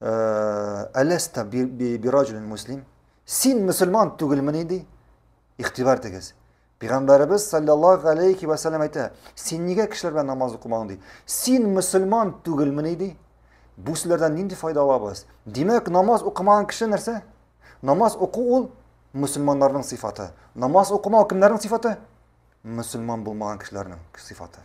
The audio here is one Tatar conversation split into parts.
Әләстә бираҗулин муслим. Син мөселман түгелмени ди. Игътибар тегез. Пәйгамбәребез саллаллаһу алейхи ва саллям әйтә, син нигә кешеләр белән намаз укымаң ди. Син мөселман түгелмени ди. Бу сүзләрдән нинди файда алабыз? Димәк, намаз укымаган кеше нәрсә? Намаз уку ул мөселманнарның сыйфаты. Намаз укымау кемнәрнең сыйфаты? Мөселман булмаган кешеләрнең сыйфаты.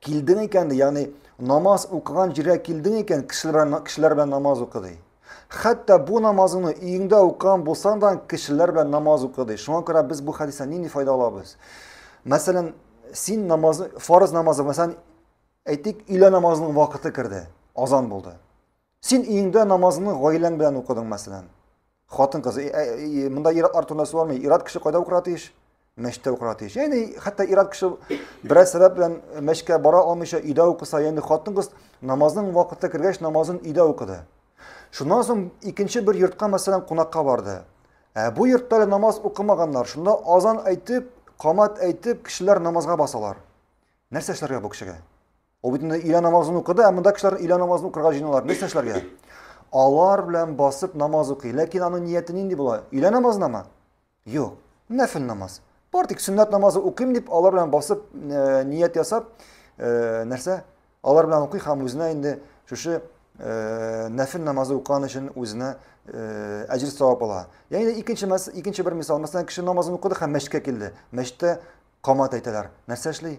Килдең икән, ягъни намаз укыган җиргә килдең икән, кешеләр кешеләр белән намаз укы ди. Хәтта бу намазыңны өеңдә укыган булсаң да кешеләр белән намаз укы ди. Шуңа күрә без бу хәдистән нинди файда алабыз? Мәсәлән, син намаз, фарыз намазы, мәсәлән, әйтик, өйлә намазының вакыты керде, азан булды. Син өеңдә намазыңны гаиләң белән укыдың, мәсәлән. Хатын кыз, монда ират артында суармый, ират кеше кайда укырга тиеш? Мәчеттә укырга тиеш. Яни хәтта ират кеше берәр сәбәп белән мәчкә бара алмыйча өйдә укыса, яни хатын кыз намазның вакыты кергәч намазын өйдә укыды. Шуннан соң икенче бер йортка, мәсәлән, кунакка барды. Ә бу йортта намаз укымаганнар. Шунда азан әйтеп, камат әйтеп, кешеләр намазга басалар. Нәрсә эшләргә бу кешегә? Ул бит инде өйлә намазын укыды, ә монда кешеләр өйлә намазын укырга җыеналар. Нәрсә эшләргә? Алар белән басып намаз укый. Ләкин аның нияте нинди була? Өйлә намазынамы? Юк. Нәфил намаз. Бар тик сөннәт намазы укыйм дип, алар белән басып э, ният ясап, э, нәрсә? Алар белән укый һәм үзенә инде шушы э, нәфил намазы укыган өчен үзенә э, әҗер савап ала. Ягъни икенче икенче бер мисал, мәсәлән, кеше намазын укыды һәм мәчеткә килде. Мәчеттә камат әйтәләр. Нәрсә эшли?